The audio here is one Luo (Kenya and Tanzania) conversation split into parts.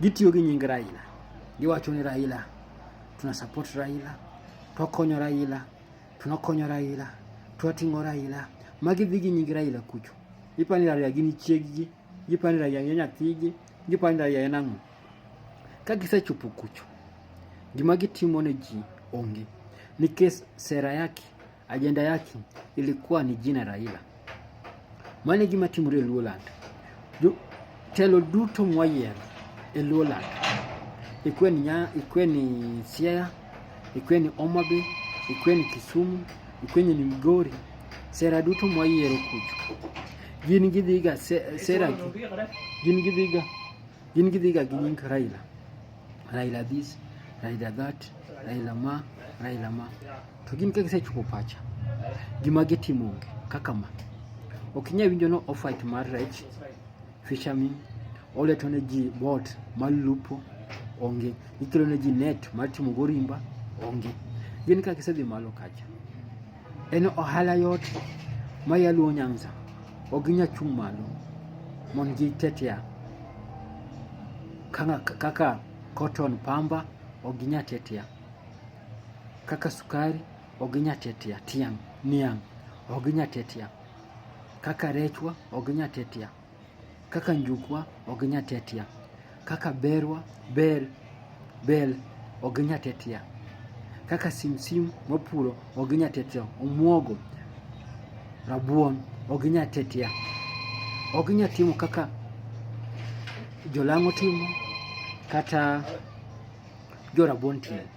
Gitiyo gi nying Raila, giwacho ni Raila, tuna support Raila, twakonyo Raila, tunakonyo Raila, twating'o Raila. Magi dhi gi nying Raila kucho. Giparo ni Raila gin chieggi, giparo ni Raila en nyathigi, giparo ni Raila en ang'o. Ka gisechopo kucho, gima gitimo ne ji onge nikech sera yake Ajenda yake ilikuwa ni jina Raila. Mane gima timore e Luoland. Telo duto mwayiero e Luoland. Ikwe ni nya, ikwe ni Siaya, ikwe ni Omabe, ikwe ni Kisumu, ikwe ni Migori. Sera duto mwayiero kucho. Gin gidhiga sera gin gidhiga in gi dhiga gi nying Raila Raila this Raila that Raila ma Raila ma to gin ka gisechopo pacha gima gitimo onge kaka ma ok inyal winjo no ofite mar rech fishermen oleto ne ji bot mar lupo onge ikelo ne ji net mar timo gorimba onge gin ka gisedhi malo kacha En ohala yot ma yaluo Nyanza ok ginya chung' malo mondo gitetea kaka cotton pamba ok ginya tetea kaka sukari ok ginya tetea tiang' niang' ok ginya tetea kaka rechwa ok ginya tetea Kaka njukwa ok nyatetia, kaka berwa bel bel ok nyatetia, kaka simsim mapuro ok nyatetia, omuogo rabuon ok nyatetia, ok nyatimo kaka jolang'o timo kata jorabuon timo.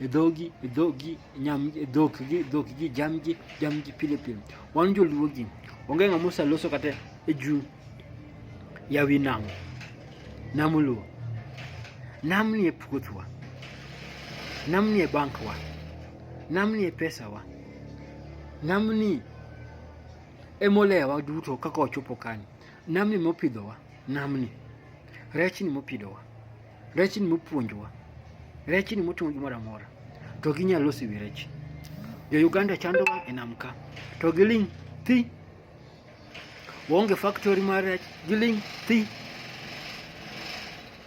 dhogi dhogi nyam dhokgi dhokgi jamgi jamgi pile pile wan joluo gi onge ng'ama oseloso kata e juu ya wi nam nam luo nam ni e puothwa nam ni e bankwa nam ni e pesawa nam ni emolewa duto kaka ochopo kani nam ni mopidhowa nam ni rech ni mopidhowa Rech ni mopuonjwa. Rech ni moting'o gimoro amora. To ginyal losi wi rech. Jo Uganda chandowa e nam ka. To giling' thi. Waonge factory mar rech, giling' thi.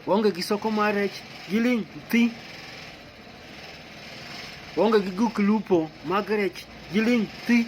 Waonge gi soko mar rech, giling' thi. Waonge gi guk lupo mag rech, giling' thi.